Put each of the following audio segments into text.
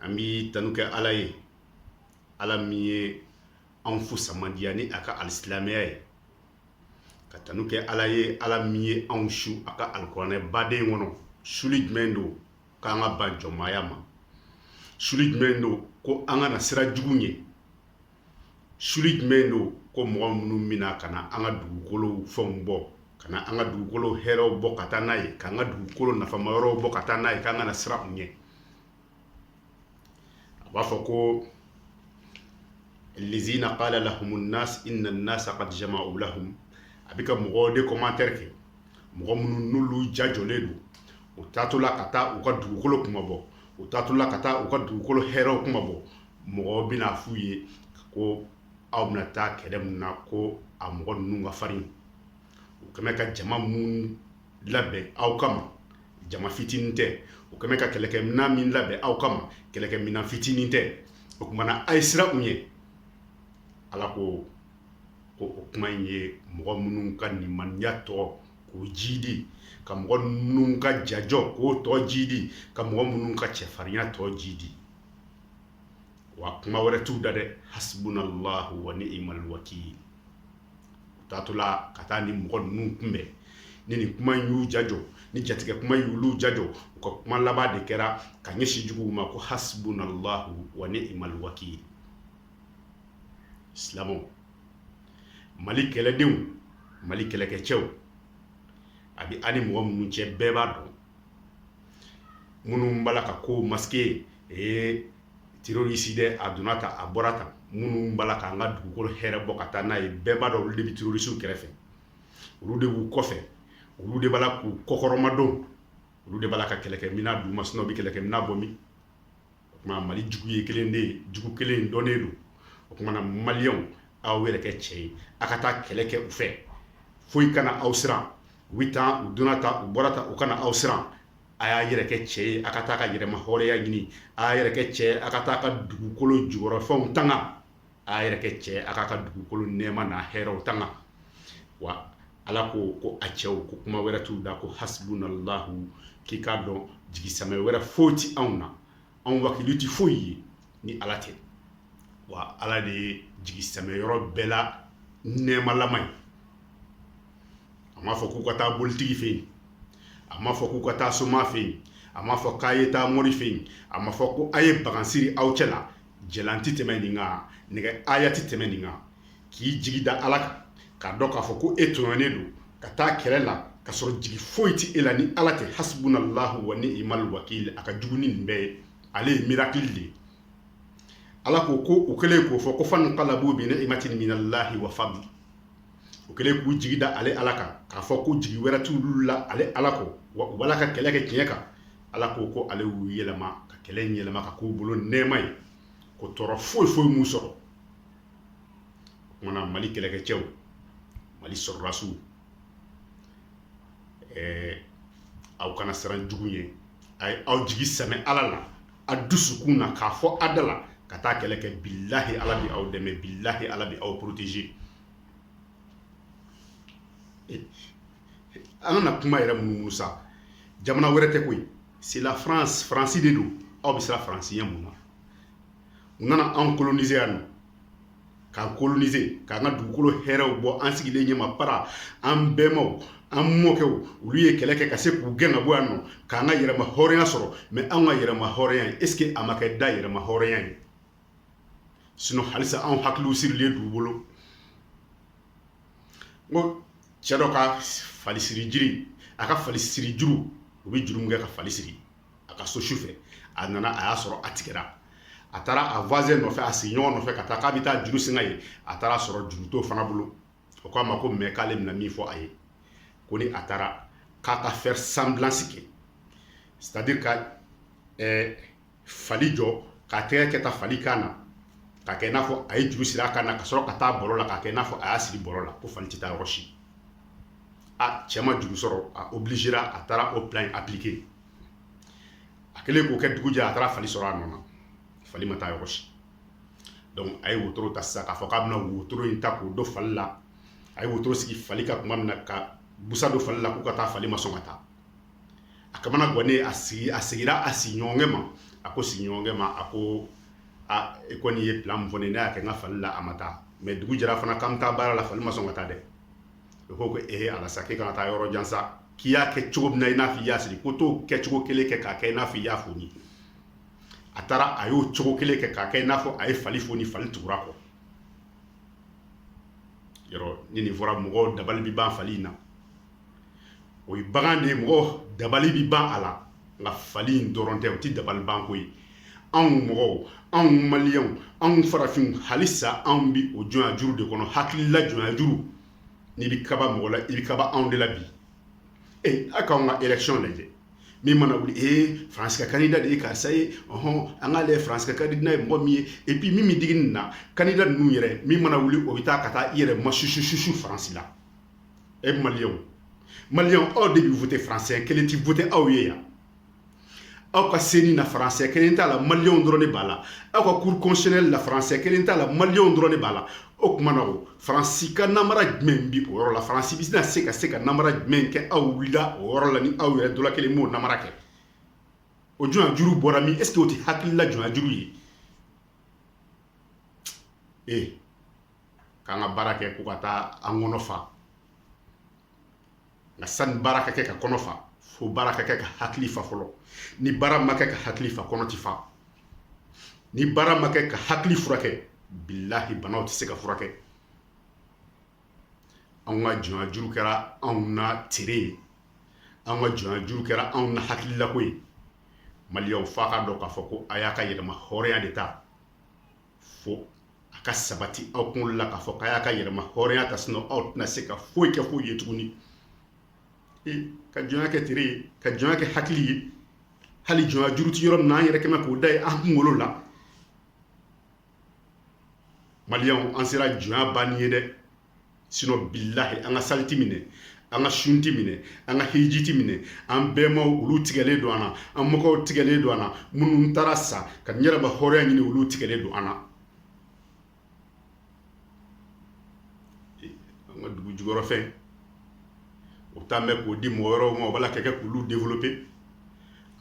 an bɛ tanu kɛ ala ye ala min ye an fusamandiya ni a ka alisilamɛya ye ka tanu kɛ ala ye ala min ye anw su a ka alikuranɛ baden kɔnɔ suli jumɛn don k'an ka ban jɔnmaya ma suli jumɛn don ko an kana siran jugu ɲɛ suli jumɛn don ko mɔgɔ minnu bɛ na ka na an ka dugukolo fɛnw bɔ ka na an ka dugukolo hɛrɛɛw bɔ ka taa n'a ye k'an ka dugukolo nafama yɔrɔw bɔ ka taa n'a ye k'an kana siran u ɲɛ a b'a fɔ ko lezina kala lahumu nas inna nas kad jamau lahum a bɛ ka mɔgɔ de komantɛri kɛ mɔgɔ minnu n'olu jajɔlen don u taatɔ la ka taa u ka dugukolo kuma bɔ u taatɔ la ka taa u ka dugukolo hɛrɛɛw kuma bɔ mɔgɔ bɛna f' u ye ko aw bɛna taa kɛlɛ min na ko a mɔgɔ ninnu ka farin u kɛlen bɛ ka jama min labɛn aw kama jama fitinin tɛ u kɛlen bɛ ka kɛlɛkɛ minɛn min labɛn aw kama kɛlɛkɛ minɛn fitinin tɛ o tumana a ye siran u ɲɛ ala ko ko o kuma in ye mɔgɔ minnu ka nimaniya tɔ k'o jidi ka mɔgɔ ninnu ka jajɔ k'o tɔ jidi ka mɔgɔ minnu ka cɛfarinya tɔ jidi wa kuma wɛrɛ t'u da dɛ hasbunallahu wa ni'mal wakil u taatɔla ka taa ni mɔgɔ ninnu kunbɛn ni nin kuma in y'u jajɔ ni jatigɛ kuma in y'olu jajɔ u ka kuma laban de kɛra ka ɲɛsin juguw ma ko hasbunallahu wa ni'mal wakil silamɛw mali kɛlɛdenw mali kɛlɛkɛcɛw a bɛ ani mɔgɔ minnu cɛ bɛɛ b'a dɔn minnu b'a la ka ko masike ye terorisi dɛ a donna tan a bɔra tan minnu b'a la k'an ka dugukolo hɛrɛ bɔ ka taa n'a ye bɛɛ b'a dɔn olu de bɛ terorisiw kɛrɛfɛ olu de b'u kɔfɛ olu de b'a la k'u kɔkɔrɔmadon olu de b'a la ka kɛlɛkɛ minɛn d'u ma sinɔn u bɛ kɛlɛkɛ minɛn bɔ min o tuma mali jugu ye kelen de ye jugu kelen dɔnnen don o tumana maliyɛnw aw yɛrɛ kɛ cɛ ye a ka taa kɛlɛ kɛ u fɛ foyi kana aw siran u bɛ tan u donna tan u bɔra tan u kana aw siran a y'a yɛrɛ kɛ cɛ ye a ka taa ka yɛrɛma hɔrɔnya ɲini a y'a yɛrɛ kɛ cɛ ye a ka taa ka dugukolo jukɔrɔfɛnw tanga a yɛrɛ kɛ cɛ a k'a ka dugukolo nɛɛma n'a hɛrɛw tanga wa Ala ko ko a cɛw ko kuma wɛrɛ t'u da ko hasbunallahu k'i k'a dɔn jigisamɛ wɛrɛ foyi ti anw na anw wakili ti foyi ye ni Ala tɛ wa Ala de ye jigisamɛ yɔrɔ bɛɛ la nɛɛmalama ye a m'a fɔ k'u ka taa bolitigi fɛ yen a m'a fɔ k'u ka taa soma fɛ yen a m'a fɔ k'a ye taa mori fɛ yen a m'a fɔ ko a ye bagan siri aw cɛ la jɛlan ti tɛmɛ nin kan nɛgɛhaya ti tɛmɛ nin kan k'i jigi da ala kan k'a dɔn k'a fɔ ko e tɔɲɔnen don ka taa kɛlɛ la ka sɔrɔ jigi foyi tɛ e la ni ala tɛ hasbunallahu wa ni'mal wakil a ka jugu ni nin bɛɛ ye ale ye miracle de ye ala ko ko u kɛlen k'o fɔ ko fanqalabu bi ni'matin min allahi wa fadl u kɛlen k'u jigi da ale ala kan k'a fɔ ko jigi wɛrɛ t'olu la ale ala kɔ wa u b'ala ka kɛlɛ kɛ tiɲɛ kan ala ko ko ale y'u yɛlɛma ka kɛlɛ in yɛlɛma ka k'u bolo nɛɛma ye ko tɔɔrɔ foyi foyi m'u sɔrɔ o kuma na mali kɛlɛkɛcɛw mali sɔrɔdasiw ɛɛ aw kana siran jugu ɲɛ a ye aw jigi sɛmɛ ala la a dusukun na k'a fɔ a da la ka taa kɛlɛ kɛ bilahi ala bɛ aw dɛmɛ bilahi ala bɛ aw protéger an kana kuma yɛrɛ munumunu sa jamana wɛrɛ tɛ koyi c'est la france faransi de don aw bɛ siran faransi ɲɛ mun na u nana anw coloniser yan nɔ k'an coloniser k'an ka dugukolo hɛrɛw bɔ an sigilen ɲɛma para an bɛnbaw an mɔkɛw olu ye kɛlɛ kɛ ka se k'u gɛn ka bɔ yan nɔ k'an ka yɛrɛma hɔrɔnya sɔrɔ mais anw ka yɛrɛma hɔrɔnya ye est ce que a ma kɛ da yɛrɛma hɔrɔnya ye sinon halisa anw hakiliw sirilen d'u bolo ko cɛ dɔ ka falisiri jiri a ka falisiri juru u bɛ juru min kɛ ka fali siri a ka so sufɛ a nana a y'a sɔrɔ a tigɛra a taara a voisin nɔfɛ a sigiɲɔgɔn nɔfɛ ka taa k'a bɛ taa juru singa ye a taara sɔrɔ juru t'o fana bolo o k'a ma ko mais k'ale bɛna min fɔ a ye ko ni a taara k'a ka faire semblance kɛ c'est-à-dire ka ɛɛ fali jɔ k'a tɛgɛ kɛ tan fali kan na k'a kɛ i n'a fɔ a ye juru siri a kan na ka sɔrɔ ka taa bɔlɔ la k'a kɛ i n'a fɔ a y'a siri bɔlɔ la ko fali tɛ taa yɔrɔ si a cɛ ma juru sɔrɔ a obligera a taara o plan in appliqué a kɛlen k'o kɛ dugu jɛ a taara fali sɔrɔ a nɔ na fali ma taa yɔrɔ si donc a ye wotoro ta sisan k'a fɔ k'a bɛna wotoro in ta k'o don fali la a ye wotoro sigi fali kan kuma min na ka busan don fali la k'u ka taa fali ma sɔn ka taa a kamana gannen a segi a segira a sigiɲɔgɔnkɛ ma a ko sigiɲɔgɔnkɛ ma a ko a e kɔni ye plan min fɔ ne ye ne y'a kɛ n ka fali la a ma taa mais dugu jɛra fana k'an bɛ taa baara la fali ma sɔn ka taa dɛ o ko ko ee ala sa k'e kana taa yɔrɔ jan sa k'i y'a kɛ cogo min na i n'a fɔ i y'a siri ko t'o kɛcogo kelen kɛ k'a kɛ i n'a fɔ i y'a foni a taara a y'o cogo kelen kɛ k'a kɛ i n'a fɔ a ye fali foni fali tugura a kɔ yɔrɔ ni nin fɔra mɔgɔw dabali bɛ ban fali in na o ye bagan de ye mɔgɔ dabali bi ban a la nka fali in dɔrɔn tɛ o tɛ dabali banko ye anw mɔgɔw anw maliyɛnw anw farafinw halisa anw bi o jɔnyajuru de kɔnɔ hakilila jɔnyajuru n'i bi kaba mɔgɔ la i bi kaba anw de la bi e a k'anw ka élection lajɛ min mana wuli ee faransi ka kandida de ye karisa ye ɔhɔn an k'ale ye faransi ka kandida ye mɔgɔ min ye et puis min bɛ digi nin na kandida ninnu yɛrɛ min mana wuli o bɛ taa ka taa i yɛrɛ masusususu faransi la e maliyɛnw maliyɛnw aw de bi voter faransɛ kelen ti voter aw ye yan aw ka seni na faransɛ kelen t'a la maliyɛnw dɔrɔn de b'a la aw ka cour constitutionnelle la faransɛ kelen t'a la maliyɛnw dɔrɔn de b'a la o tuma na o faransi ka namara jumɛn bɛ o yɔrɔ la faransi bɛ na se ka se ka namara jumɛn kɛ aw wulila o yɔrɔ la ni aw yɛrɛ dɔ la kelen m'o namara kɛ o jɔnya juru bɔra min est-ce que o tɛ hakilila jɔnya juru ye ee k'an ka baara kɛ ko ka taa an kɔnɔ fa nka sani baara ka kɛ ka kɔnɔ fa fo baara ka kɛ ka hakili fa fɔlɔ ni baara ma kɛ ka hakili fa kɔnɔ ti fa ni baara ma kɛ ka hakili furakɛ bilahi banaw tɛ se ka furakɛ anw ka jɔnya juru kɛra anw na tere ye anw ka jɔnya juru kɛra anw na hakililako ye maliyɛnw f'a ka dɔn k'a fɔ ko a y'a ka yɛrɛmahɔrɔnya de ta fo a ka sabati aw kunkolo la k'a fɔ k'a y'a ka yɛrɛmahɔrɔnya ta sinɔ aw tɛna se ka foyi kɛ foyi ye tuguni e ka jɔnya kɛ tere ye ka jɔnya kɛ hakili ye hali jɔnya juru ti yɔrɔ min na an yɛrɛ kɛmɛ k'o da ye an kunkolo la maliyɛnw an sera jɔnya banni ye dɛ sinɔ bilahi an ka sali ti minɛ an ka sun ti minɛ an ka hiji ti minɛ an bɛmaw olu tigɛlen don an na an mɔkɛw tigɛlen don an na minnu taara sa ka yɛrɛmahɔrɔnya ɲini olu tigɛlen don an na an ka dugu jukɔrɔfɛn o taa mɛn k'o di mɔgɔ wɛrɛw ma o b'a la ka kɛ k'olu développer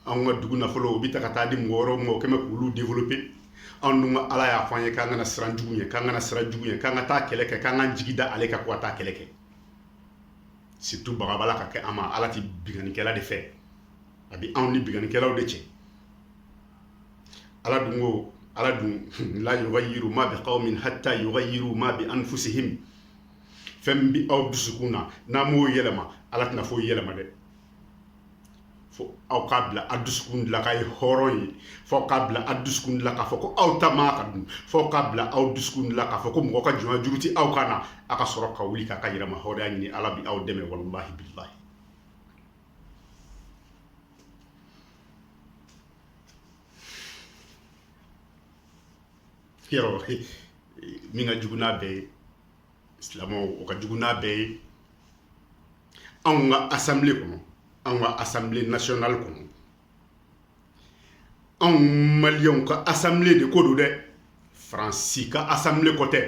anw ka dugu nafolo o bi ta ka taa di mɔgɔ wɛrɛw ma kɛmɛ k'olu développer anw dun ala y'a fɔ an ye k'an kana siran jugu ye k'an kana siran jugu ye k'an ka taa kɛlɛ kɛ k'an ka jigi da ale kan k'an taa kɛlɛ kɛ surtout bagabaga ka kɛ an ma ala tɛ binkannikɛla de fɛ a bɛ anw ni binkannikɛlaw de cɛ ala dun ko ala dun la yughayyiru ma bi qawmin hatta yughayyiru ma bi anfusi fɛn min bɛ aw dusukun na n'a m'o yɛlɛma ala tɛna foyi yɛlɛma dɛ fo aw k'a bila a dusukun de la k'a ye hɔrɔn ye fo k'a bila a dusukun de la k'a fɔ ko aw ta man ka dun fo k'a bila aw dusukun de la k'a fɔ ko mɔgɔ ka jɔnya juru tɛ aw kan na a ka sɔrɔ ka wuli k'a ka yɛrɛmahɔrɔnya ɲini ala bi aw dɛmɛ walahi bilahi yɔrɔ min ka jugu n'a bɛɛ ye silamɛw o ka jugu n'a bɛɛ ye anw ka asanbilen kɔnɔ anw ka asanbilen nasiyɔnali kɔnɔ anw maliyɛnw ka asanbilen de ko don dɛ faransi ka asanbilen ko tɛ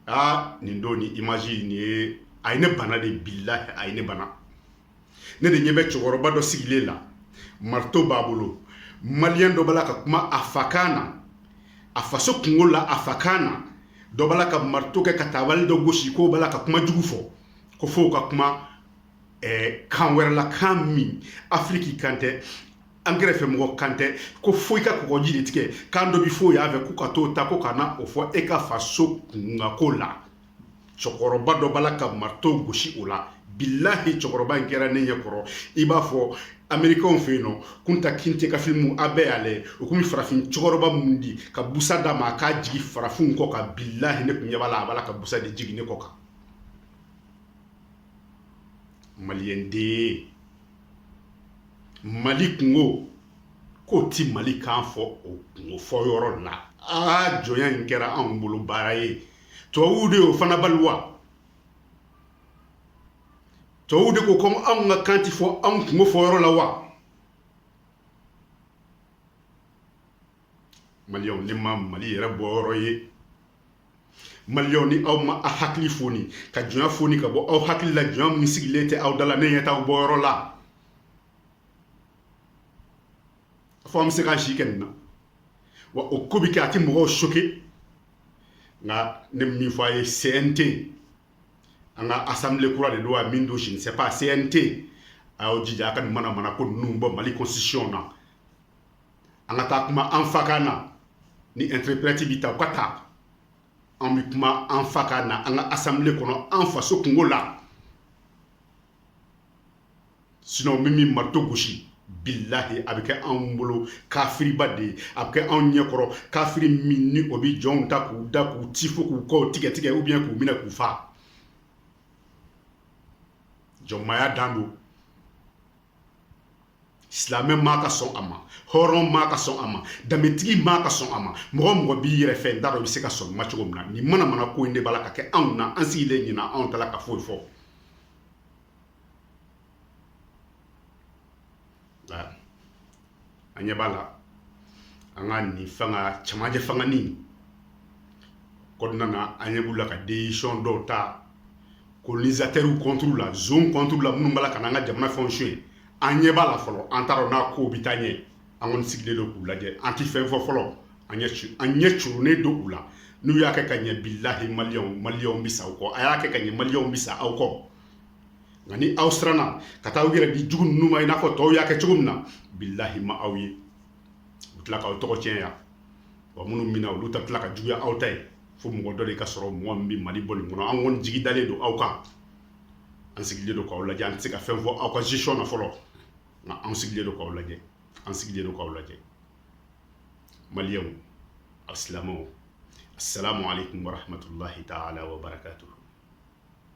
aa nin don ni imaji nin ye a ye ne bana de bilahi a ye ne bana ne de ɲɛ bɛ cɛkɔrɔba dɔ sigilen la marito b'a bolo maliyɛn dɔ b'a la ka kuma a fakan na a faso kungo la a fakan na dɔ b'a la ka marito kɛ ka tabali dɔ gosi k'o b'a la ka kuma jugu fɔ ko fo ka kuma eh, kan wɛrɛ la kan min afiriki kan tɛ an kɛrɛfɛ mɔgɔ kan tɛ ko fo i ka kɔgɔji de tigɛ kan dɔ bi fɔ yan fɛ ko ka t'o ta ko ka na o fɔ e ka faso kunkanko la cɛkɔrɔba dɔ b'a la ka marito gosi o la bilahi cɛkɔrɔba in kɛra ne ɲɛ kɔrɔ i b'a fɔ amerikanw fɛ yen nɔ kunta kinte ka filimu a bɛɛ y'a lajɛ o kun bɛ farafin cɛkɔrɔba mun di ka busa d'a ma a k'a jigin farafinw kɔ kan bilahi ne kun ɲɛ b'a la a b'a la ka busa de jigin ne kɔ kan maliyɛn den mali kungo k'o ti mali kan fɔ o kungo fɔ yɔrɔ la aa jɔnya in kɛra anw bolo baara ye tubabuw de y'o fana bali wa tubabuw de ko ko anw ka kan ti fɔ anw kungo fɔ yɔrɔ la wa maliyɛnw ne ma mali yɛrɛ bɔ yɔrɔ ye maliyɛnw ni aw ma a hakili foni ka jɔnya foni ka bɔ aw hakili la jɔnya min sigilen tɛ aw da la ne ɲɛ t'aw bɔ yɔrɔ la fɔ an bɛ se k'an si kɛ nin na wa o ko bɛ kɛ a tɛ mɔgɔw choqué nka ne bɛ min fɔ a ye CNT an ka assemblée kura de don a min don je ne sais pas CNT a y'aw jija a ka nin mana mana ko ninnu bɔ Mali constitution na an ka taa kuma an fa kan na ni interprète bɛ ta u k'a ta an bɛ kuma an fa kan na an ka assemblée kɔnɔ an faso kungo la. sinɔn min min marito gosi bilahi a bɛ kɛ anw bolo kafiriba de ye a bɛ kɛ anw ɲɛkɔrɔ kafiri min ni o bɛ jɔnw ta k'u da k'u ti fo k'u kɔw tigɛ tigɛ ou bien k'u minɛ k'u fa jɔnmaya dan don silamɛ man ka sɔn a ma hɔrɔn man ka sɔn a ma danbetigi man ka sɔn a ma mɔgɔ mɔgɔ b'i yɛrɛ fɛ n t'a dɔn i bɛ se ka sɔn ma cogo min na nin mana mana ko in de b'a la ka kɛ anw na an sigilen nin na anw t'a la ka foyi fɔ an ɲɛ b'a la an ka nin fanga camancɛ fanga nin kɔnɔna na an ɲɛ b'u la ka desizɔn dɔw ta kolonizatɛriw kɔnturu la zon kɔnturu la minnu b'a la ka n'an ka jamana fɛnw sonyɛ an ɲɛ b'a la fɔlɔ an t'a dɔn n'a kow bɛ taa ɲɛ an kɔni sigilen don k'u lajɛ an tɛ fɛn fɔ fɔlɔ an ɲɛ curunnen don u la n'u y'a kɛ ka ɲɛ bilahi maliyɛnw bɛ sa u kɔ a y'a kɛ ka ɲɛ maliyɛnw bɛ sa aw kɔ nka ni aw siranna ka taa aw yɛrɛ di jugu ninnu ma i n'a fɔ tɔw y'a kɛ cogo min na bilahi ma aw ye u tila k'aw tɔgɔ tiɲɛ yan wa minnu minɛna olu ta tila ka juguya aw ta ye fo mɔgɔ dɔ de ka sɔrɔ mɔgɔ min bɛ mali bɔ nin kɔnɔ an kɔni jigi dalen don aw kan an sigilen don k'aw lajɛ an tɛ se ka fɛn fɔ aw ka gestion na fɔlɔ nka an sigilen don k'aw lajɛ an sigilen don k'aw lajɛ maliyɛnw alisilamɛw assalamu alaikum warahmatullahi taala wabarakatuh